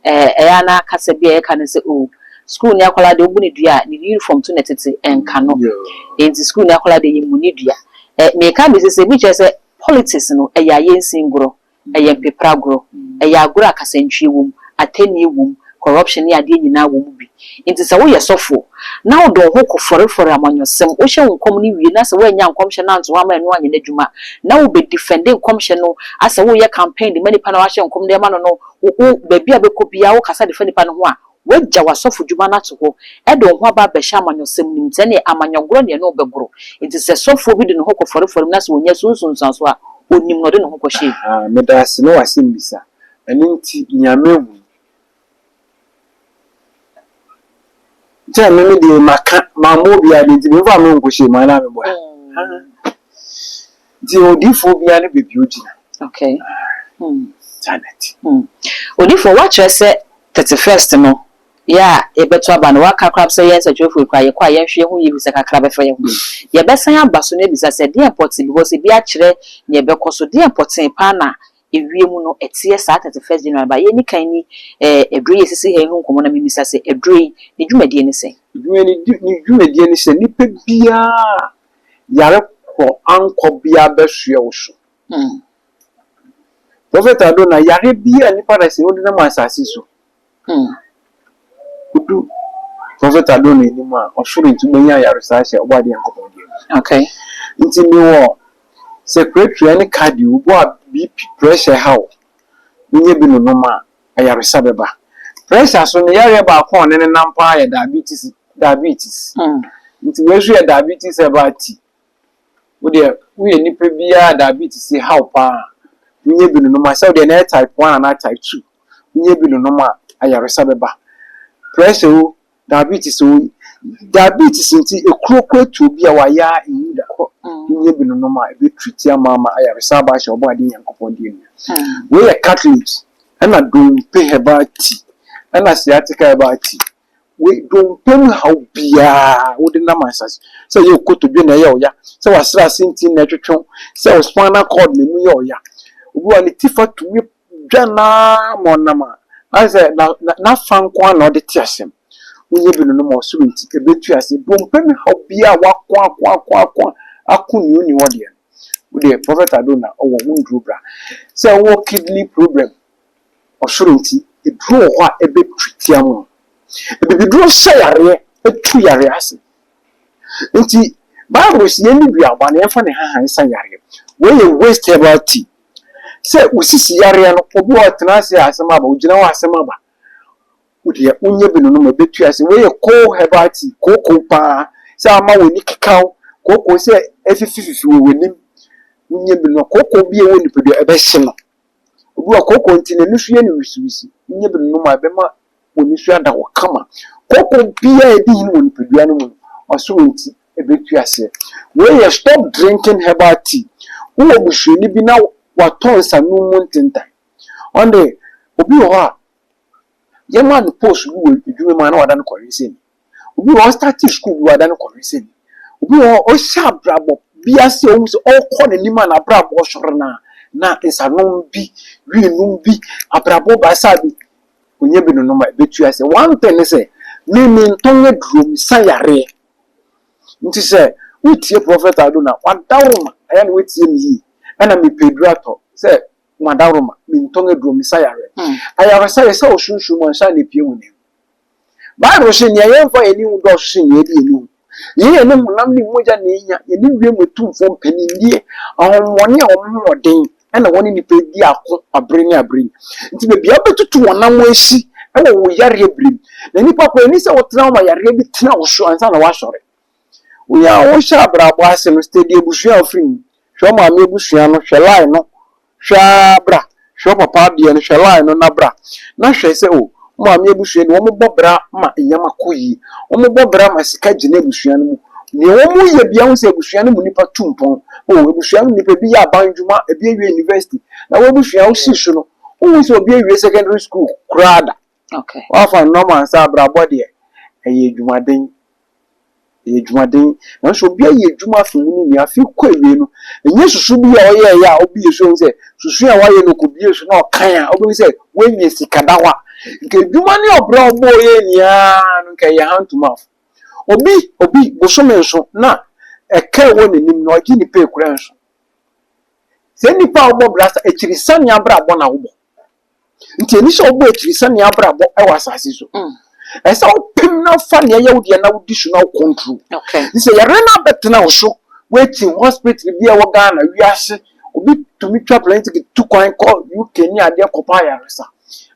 ɛyɛ a na kasa bi a yɛka ne sɛ o sukuu ni akwadaa deɛ obu ne dua a ne uniform to na tete ɛnka no nti sukuu ni akwadaa deɛ yɛ mu ne dua meka bi sɛ sɛ ebi kyerɛ sɛ politics no ɛyɛ ayɛ nsingorɔ Ɛyɛ mpepere agorɔ. Ɛyɛ agorɔ a kasantwie wɔ mu, atɛnnie wɔ mu, corruption ne adeɛ nyinaa wɔ mu bi. Nti sɛ woyɛ sɔfoɔ na wode wo ho kɔfɔrefɔre amanyɔsɛm, wohyɛ wo nkɔm no wie na sɛ woannya nkɔmhyɛ no anto hɔ ama ɛno anyɛ n'adwuma na wobɛdifɛnde nkɔmhyɛ no asɛ woreyɛ campaign de ma nipa no a woahyɛ nkɔm de ama no no, wo, wo, baabi a wobɛkɔ biara wokasa de fa nipa no ho a, Woagya w'asɔfodwuma no ato hɔ de wo ho aba abɛhyɛ amanyɔsɛm no mu. Sɛ ɛneɛ, amanyɔgorɔ ne ɛne wo bɛgoro. Enti sɛ sɔfoɔ bi de ne ho kɔfɔre fɔre mu na sɛ ɔnya su nsunsuansoɔ a, ɔnim na ɔde ne ho kɔhyɛ mu. Aa, meda ase ne w'asɛmmisa. Ɛno nti, nea mahu yi, sɛ me me deɛ maka, mammɔ obiara de nti, memfa me ho nkɔhyɛ mu anaa meboa? Aa. Nti odiyifoɔ biara ne baabi a ɔgyina. Okay. Hmm. Janet. Hmm. Odiyifoɔ, woakyerɛ sɛ 31st no, yɛ a yɛbɛto aba no, woaka koraa sɛ yɛn nsɛntwerɛfoɔ yi koraa yɛkɔ a yɛnhwɛ yɛn ho yie bisa kakra bɛfa yɛn ho. Hmm. Yɛbɛsan aba so na abisa sɛ deɛ mpɔtee because ebi akyerɛ nea ɛbɛkɔ so deɛ mpɔtee paa na ewie mu no ɛteɛ saa 31st January ba yɛni kan ni ɛɛ aduro yi esisi ha yi ho nkɔmɔ na mimisa sɛ aduro yi ne dwumadie ne sɛ. Dwumadie ne dwumadie ne sɛ nipa biara yare korɔ ankɔ bia abɛsoɛ wo so. Hmm. Prophet Ado, na yare bia nipa da sɛ ɔde nam asase so. Hmm. Odu Prophet Ado no anim a, ɔsoro nti wobɛnya ayaresa ahyɛ ɔbɔ adeɛ Nyankopɔn deɛ mu. Okay. Nti mewɔ secretary ne cardio, wobɔ a BP, pressure ha wo, menyɛ bi nonom a, ayaresa bɛba. Pressure so no, yareɛ baako a ɔne no nam paa yɛ diabetes, diabetes. Nti wei nso yɛ diabetes a ɛba ti. Wo deɛ, woyɛ nipa bi a diabetes yi haw paa a, wonyɛ bi nonom a, sɛ wo deɛ na ɛyɛ type one anaa type two, wonyɛ bi nonom a, ayaresa bɛba. Pressure o, Diabetes o, diabetes nti ekuro kɔ etuo bi a wayɛ a nwu da. Kɔ nyɛ bi no nom a ebe triti ama ama ayaresa aba ahyɛ ɔbɔ adeɛ nyankopɔn deɛ nua. Wei yɛ cat leaves ɛna dompe herbal tea ɛna sciatica herbal tea. Wei dompe mu haw biaa wode nam ansase sɛ ɛyɛ okotodwe na ɛyɛ ɔya sɛ wasrase nti na ɛtwetwe wo sɛ wo spinal cord na emu yɛ ɔya. Obi wɔ hɔ a ne ti fa tumi dwa no ara ma ɔnam a, na ayɛ sɛ na na n'afã nko ara na ɔde te asɛm. Wonyɛ bi no no ma ɔsoro nti ebetu ase. Ebi wɔ hɔ ɔmpɛ ne haw biara a wako ako ako ako ako nea onni hɔ deɛ no. Wo deɛ Prophet Adona ɔwɔ ho nnuro bra. Sɛ wowɔ kidney problem ɔsoro nti eduro wɔ hɔ a ɛbɛtwi te ama wo. Abibiduro sɛ yareɛ, ɛtu yareɛ ase. Nti Bible se yɛnni duaba na yɛmfa ne haha nsa yareɛ. Wei yɛ waste herbal tea. Sɛ wo sisi yareɛ no obi wɔ hɔ ɔtena ase a asɛm aba, ɔgyina hɔ a asɛm aba. Wo deɛ wonyɛ bi nonom a ɛbɛtu ase. Wei yɛ cold herbal tea, kooko pa ara. Sɛ ama w'ani keka wo, kooko sɛ afifififi wɔ w'anim, wonyɛ bi nonom a, kooko bi a ɛwɔ nipadua ɛbɛhye no. Obi wɔ hɔ a kooko nti n'ani so yɛ no wisiwisi, wonyɛ bi nonom a ɛbɛma wɔn ani so ada hɔ kama. Koko biara a edi hene wɔ nipadua no mu no, wɔasɔ wɔn ti betu ase. Wei yɛ Stop Drinking Herbal Tea. Wowɔ busuani bi na watɔ nsanom mu ntentan. Ɔno de, obi wɔ hɔ a, yɛmaa no post bi wɔ adwuma mu a na wada no kɔwensani. Obi wɔ hɔ ɔstate sukuu bi wada no kɔhwesɛni. Obi wɔ hɔ ɔhyɛ abrabɔ bi ase a ɔhu sɛ ɔrekɔ n'anim a n'abrabɔ sɔre no a na nsanom bi, wii nom bi, abrabɔ basa bi, ɔnya bi nonom a ɛbɛtu ase. One thing ne sɛ, me mentɔn aduro, mesa yareɛ. Nti sɛ wotie Prophet Ado no a, w'adaworoma ayɛ na woatie me yie. Ɛna mepɛ aduro atɔ sɛ m'adaworoma, mentɔn aduro, mesa yareɛ. Ayaresa yɛ sɛ wo sunsum mu ansa na ɛpue w'anam. Bible se, Nea yɛmfa yɛn ani hu dɔɔso sen nea yɛde yɛn ani hu. Yei yɛ ne honam ne mogya na ehia, yɛ ne wiem atumfoɔ mpaninnie, ahonhommɔne a wɔn ho wɔ den na wɔne nnipa di ako abere ne abere yi. Nti baabi a wobɛtutu wɔn nam asi wɔ wo yareɛ berɛ mu. Na nnipa kɔ, ɛnni sɛ wotena hɔ ma yareɛ bi tena wo so ansa na woasɔre. Wonya a wohyɛ abrabɔ ase no, steady abusua a wofiri mu, hwɛ wo maame abusua no, hwɛ line no, Hwɛ aa bra, hwɛ ɔpapa adeɛ no, hwɛ line no na bra na hwɛ sɛ oh, wo maame abusua deɛ wɔn bɔ bra ma nneɛma kɔ yie, wɔn bɔ bra ma sika gyina abusua no mu, deɛ wɔn yɛ biara wohu sɛ abusua no mu nipa tu mpɔn, oh abusua no mu nipa ebi yɛ aban adwuma, ebi awie university, na w'abusua wosi so no, wonhu sɛ obi awie secondary school koraa da. Okay. Wafa no normal sɛ abrabɔ deɛ ɛyɛ adwumaden ɛyɛ adwumaden nanso obi ayɛ adwuma afi mu ne nea afi kɔ awie no ɛnyɛ susu bi a ɔyɛɛyɛ a obie so sɛ susu a wayɛ no kɔbie so na ɔkan a wobɛhu sɛ woanya sika da hɔ a nka adwuma ne ɔbrɛ a ɔbɔɔ yɛ nyinaa no nka ɛyɛ hand to mouth obi obi bosome nso na ɛka ɛwɔ n'anim na ɔgye ne pay kura nso sɛ nnipa a wɔbɔ brasa akyiri sane abrabɔ na wobɔ Nti ɛni sɛ wobɔ akyiri sɛ nea abrabɔ ɛwɔ asase so. Mm. Ɛsɛ wopem na fa nea ɛyɛ wo deɛ na wodi so na wo control. Okay. Nti sɛ yɛre no abɛtena wo so waiting hospital bi a ɛwɔ Ghana wiase obi tumi twa plane ticket tu kwan kɔ UK ne adeɛ kɔpa ayaresa.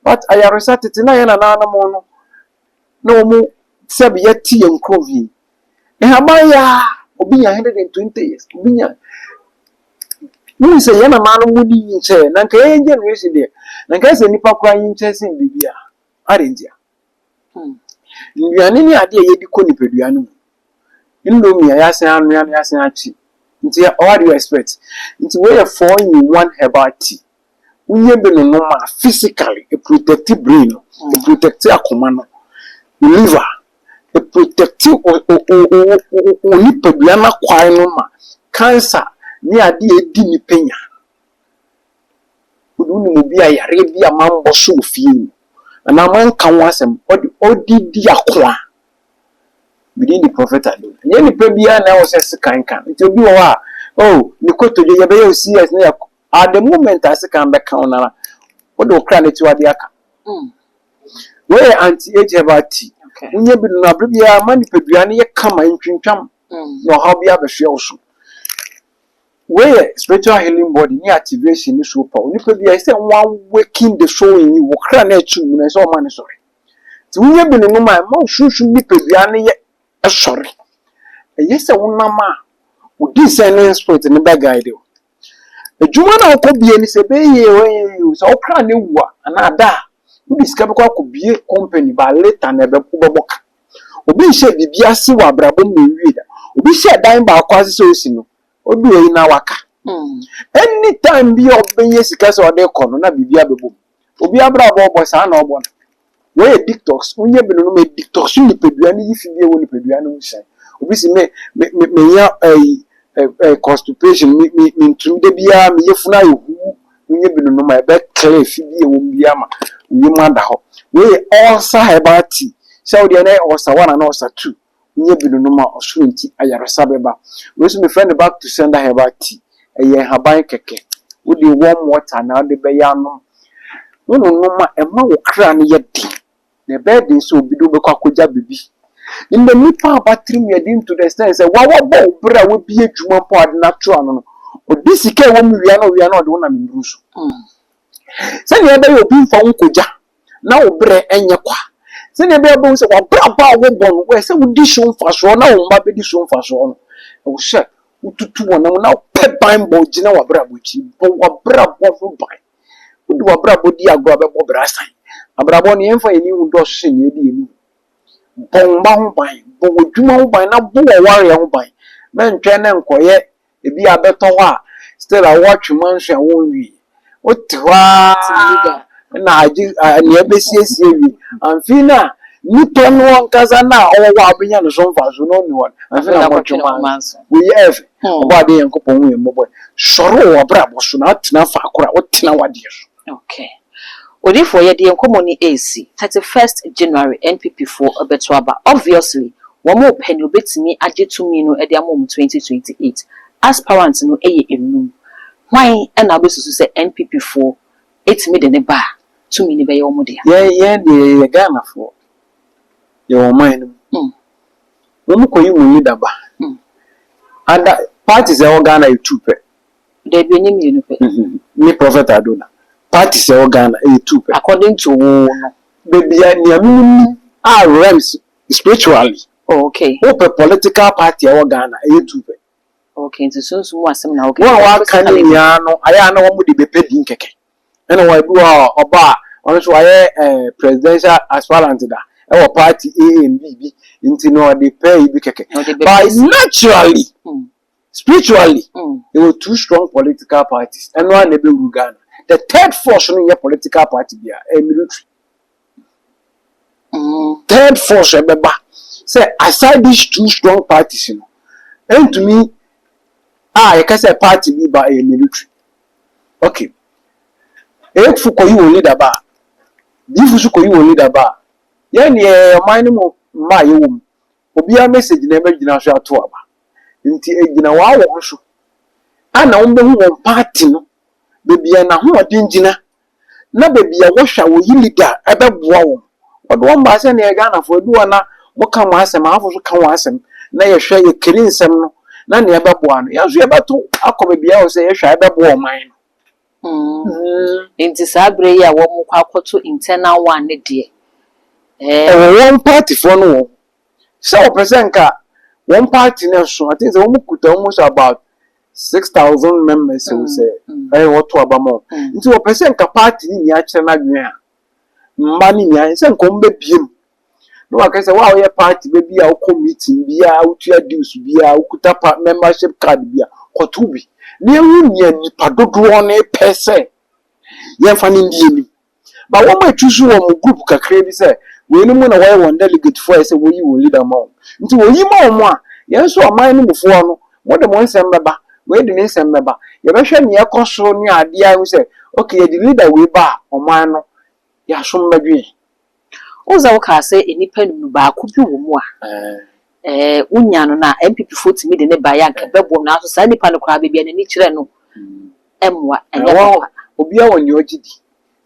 But ayaresa tete na yɛ nanaanom no na wɔn tebea te yɛn kurom he, nhaban yɛ a, obi nya 120 years, obi nya Wohu sɛ yɛn nana no mu ni nkyɛɛ, na nka yɛn generation deɛ, na nka sɛ nnipa koraa nyi nkyɛɛ sen biribi a. Adɛn ntia? Hmm. Nnuane ne adeɛ a yɛde kɔ nipadua no mu. Indomie a yɛasen anoa na yɛasen akye. Nti what do you expect? Nti wei yɛ four in one herbal tea. woyɛ bi no no ma physically e protect brain no, e protect akoma no, wo liver, e protect wo wo nipadua no akwae no ma cancer ne ade a edi nipa nya. Wo de wonim obi a yareɛ bi a manbɔ so wɔ fie mu anaa manka ho asɛm ɔde ɔde di ako a, me din de Prophet Ado. Ɛnyɛ nipa biara na ɛwɔ sɛ sekan ka no. Nti obi wɔ hɔ a, oh ne kotodwe yɛbɛyɛ wo CS na yɛakɔ At the moment a sekan bɛka wo no ara wode wo kra no atiwa de aka. Wei yɛ anti-age herbal tea. Wonya bi nom no a bere biara ɛma nipadua no yɛ kama, entwintwam na ɔhaw biara bɛsoɛ wo so. Wei yɛ spiritual healing body ne activation ne superpower. Onipa biara ɛsɛ sɛ wɔawaken the soul in you, wo kra no a ɛte wo mu no ɛsɛ sɛ wɔma no sɔre. Nti wonya bi nom a ɛma wo sunsum nipadua no yɛ sɔre. Ɛyɛ sɛ wonam a wo descending spirit no bɛguide wo. Adwuma no a wokɔbie no sɛ ɛbɛyɛ yie o ɛnyɛ yie o, sɛ wo kra no awu a anaa ada a, wode sika bɛkɔ akɔbie company but later no wobɛbɔ ka. Obi nhyɛɛ biribi ase wɔ abrabɔ mu na ɔnwie da. Obi hyɛɛ dan baako ase sɛ ɔresi no, ɔduu ayi no na waka. Anytime bi a ɔbɛnya sika sɛ ɔde rekɔ no na biribi abɛbom. Obi abrabɔ ɔbɔ saa na ɔbɔ no. Wei yɛ detox, wonyɛ bi no no me detox nipadua no yi fi bi a ɛwɔ nipadua no mu sɛn. Obi se me me me menya ɛyi ɛ ɛ constipation me me mentumi da biara me yafunu ayɛ huu wonyɛ bi no no ma ɛbɛ clear fi bi a ɛwɔ mu bi ama wo yam ada hɔ. Wei yɛ ulcer herbal tea sɛ wo deɛ na ɛyɛ ulcer one anaa ulcer two nyɛ binunom a ɔsoro nti ayaresa bɛba. Wei nso mefrɛ no back to sender herbal tea. Ɛyɛ nhaban kɛkɛ. Wode warm water na wode bɛyɛ anom. Wononom a ɛma wo kra no yɛ den. Na ɛbɛyɛ den sɛ obi de wo bɛkɔ akɔgya biribi. Nnɛ nnipa aba tirim yɛ den to the extent sɛ wo a wabɔ wo bra a wabue adwuma mpo a wode no ato ano no, ɔde sika a ɛwɔ mu wia na ɔwia na ɔde wo nam nnuru so. Sɛnea ɛbɛyɛ obi mfa wo nkogya na wo berɛ nyɛ kwa. Sɛnea ɛbɛyɛ wobɛhu sɛ w'abrabɔ a wobɔ no, ɛsɛ sɛ wodi so mfasoɔ na wo mma bɛdi so mfasoɔ no, ɛwɔ sɛ wotutu wɔn ho na wopɛ ban bɔ gyina w'abrabɔ akyi. Bɔ w'abrabɔ ho ban. Wode w'abrabɔ di agorɔ a, bɛbɔ bra asan. Abrabɔ no, yɛmfa yɛn ani nhu dɔɔso sɛ nea ɛdi yɛn anim. Bɔ wo mma ho ban, bɔ w'adwuma ho ban na bɔ w'awareɛ ho ban. Mɛntwɛn na nkɔyɛ ebi a bɛtɔ hɔ a still a wɔtwe manso a wonwie wote hɔ aa na agye nea ɛbɛsiesie wie anfii no a nipa no ankasa no a ɔwɔ hɔ a wobɛnya ne so mfaso no ɔnni hɔ no anfii na akɔtwe manso woyɛ ɛfɛ ɔbɔadeɛ Nyankopɔn hu yɛn mmɔbɔ sɔre wɔ wabrabɔ so na atena faakoro a wotena wadeɛ so. Ok. Odifoɔ yɛde yɛn nkɔmmɔ ni ɛresi thirty first January NPP foɔ bɛto aba obviously wɔn repɛ nea ɔbɛtumi agye tumi no de ama wɔn twenty twenty eight aspirant no yɛ ɛnum hwan na wobɛsusu sɛ NPP foɔ ɛtumi de no ba a tumi no bɛyɛ wɔn dea? Yɛn yɛn deɛ yɛyɛ Ghana foɔ yɛwɔ ɔman no mu wɔn kɔyi wɔn leader ba ada parties a ɛwɔ Ghana yɛ two pɛ Dabi ɛnyɛ mmienu pɛ. Me prophet Ado na. Parties ɛwɔ Ghana ɛyɛ two pɛ. According to wo no. Dabi a nea me nim nim a realms spiritually. Oh okay. Wo pɛ political party ɛwɔ Ghana ɛyɛ two pɛ. Okay nti sunsum mu asɛm na wo kɛ. Wɔn a waka ne nyinaa no ayɛ a na wɔn de bɛ pɛ din kɛkɛ. Ɛna wɔn ebi wɔ hɔ a ɔba a ɔno nso wayɛ eh presidential aspirant da ɛwɔ party ANB bi nti na ɔde pɛ ebi kɛkɛ. Ɔde bɛ pɛ. But naturally. Spiritually yɛwɔ two strong political parties ɛno ara na ɛbɛwuru Ghana. The third force no nyɛ political party biara ɛyɛ military. Mm. Third force ɛbɛba sɛ aside these two strong parties no ɛntumi a yɛka sɛ party bi ba ɛyɛ military. Okay. Efo kɔyi wɔn leader ba a Difo so kɔyi wɔn leader ba a yɛn deɛ ɔman no mu mmaa yɛwɔ mu obiara message na ɛbɛgyina so ato aba. Nti ɛgyina waa wɔn so a na wɔn bɛhu wɔn party no baabi a n'ahoɔden gyina na baabi a wɔhwɛ a wɔyi leader a ɛbɛboa wɔn. Wɔde wɔn baa sɛ na yɛ Ghanafoɔ ɛdu hɔ a na mo ka mo asɛm ahafo nso ka wɔn asɛm na yɛhwɛ yɛ kari nsɛm no na nea ɛbɛboa no yɛn nso yɛbɛto akɔ baabi a ɛwɔ sɛ yɛhwɛ a ɛbɛboa ɔman no. Mm, nti saa berɛ yi a wɔkɔ akɔto internal one ne deɛ, eh. Ɛwɔ wɔn partyfoɔ no wɔn ho sɛ wɔpɛ sɛ nka wɔn party no ɛso, I think sɛ wɔn kuta almost about six thousand members o sɛ ɛyɛ wɔto aba ma wɔn, nti wɔpɛ sɛ nka party no nyinaa kyerɛ n'adwene a mma no nyinaa sɛ nka wɔn bɛbie mu na waka sɛ wo a woyɛ party ba bi a wokɔ meeting bi a wotua dues bi a wokuta pa membership card bi a kɔto bi na ehu nea nnipa dodoɔ no pɛ sɛ yɛmfa no ndi anim ba wɔn a ɛtu so wɔ wɔn group kakra bi sɛ wɔnom na wɔyɛ wɔn delegate foɔ a ɛsɛ wɔyi wɔn leader ma wɔn nti wɔyi ma wɔn a yɛn nso ɔman no mufoɔ no mode mo nsɛm bɛba wei de ne nsɛm bɛba yɛbɛhwɛ nea ɛkɔ so ne adeɛ a ɛhu sɛ okay yɛde leader wei ba a ɔman no Yɛasom bɛdwe. Wohu sɛ wokaa sɛ nnipa nnum no baako bi wɔ mu a wonya no na NPP foɔ tumi de no baeɛ a nka bɛboam nanso saa nipa no koraa baabi a n'ani kyerɛ no mmoa ɛnyɛ papa. Obiara wɔ nea ɔgye di.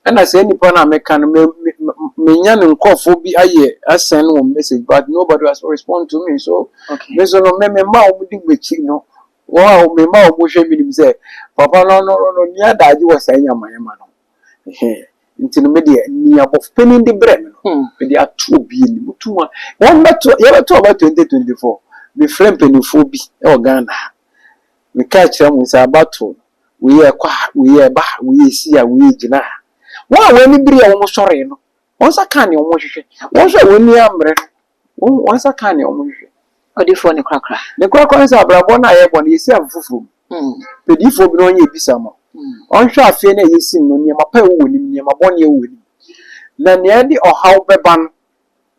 Ɛna saa nipa no a meka no menya ne nkurɔfoɔ bi ayɛ asɛn wɔn message but nobody has respond to me so me nso no me me mma a wɔn di m'akyi no wɔn a me mma a wɔn hwɛ me nim sɛ papa no no no nni adagye wɔ saa nyamayama no ho. Ɛhɛɛ. Nti no me deɛ, nea bɔfopanin de brɛɛ me no, mede ato obi anim. Wotum a, wɔmmɛto, yɛbɛto aba 2024. Mefrɛɛ mpanimfoɔ bi wɔ Ghana ha. Mekaa kyerɛɛ wɔn sɛ aba to no, wei a ɛkɔ ha, wei a ɛba ha, wei a ɛsi ha, wei a ɛgyina ha. Wɔn a wɔn ani bereɛ a wɔsɔree no, wɔn nsa kaa nea wɔhwehwɛ. Wɔn nso a wɔn ani ammere no, Wɔn wɔn nsa kaa nea wɔhwehwɛ. Ɔdefoɔ ne korakora. Ne korakora ne sɛ abrabɔ no a yɛbɔ no yɛsi afe foforɔ mu. Mm. Pɛ diifoɔ bi na ɔnyɛ ebisa ma. Mm. Ɔnhwɛ afeɛ no a yɛsi no nneɛma pa ɛwɔ wɔ nim nneɛma bɔne ɛwɔ wɔ nim. Na nea ɛde ɔhaw bɛba no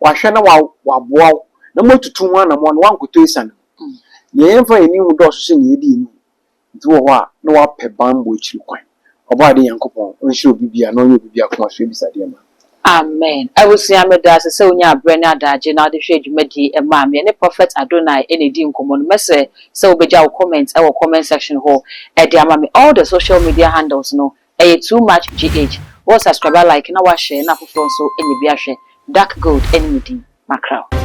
wahwɛ na wa waboa wo na moatutu ho anamɔ na wankɔtɔ asiane mu. Mm. Nea yɛmfa yɛn ani hu dɔɔso sɛ nea yɛde yɛn ani hu. Obi wɔ hɔ a, na ɔapɛ bambɔ ekyir kwan. Ɔbɔadze Nyankopɔn ɔnhyira obi biara na ɔnyɛ obi biara akoma so ebisadeɛ mma. Amen. Abusua, meda ase sɛ wonyaa berɛ ne adagye na wode hwɛɛ dwumadie yi ɛmaa me. Yɛne Prophet Adonai na ɛdii nkɔmmɔ no. Mɛsrɛ sɛ wobɛgya wo comment wɔ comment section hɔ de ama me. All the social media handles no, Ɛyɛ too much GH. Wo subscriber like na wa share na afoforɔ nso nya bi ahwɛ. Dark gold ɛne me din. Makra wo.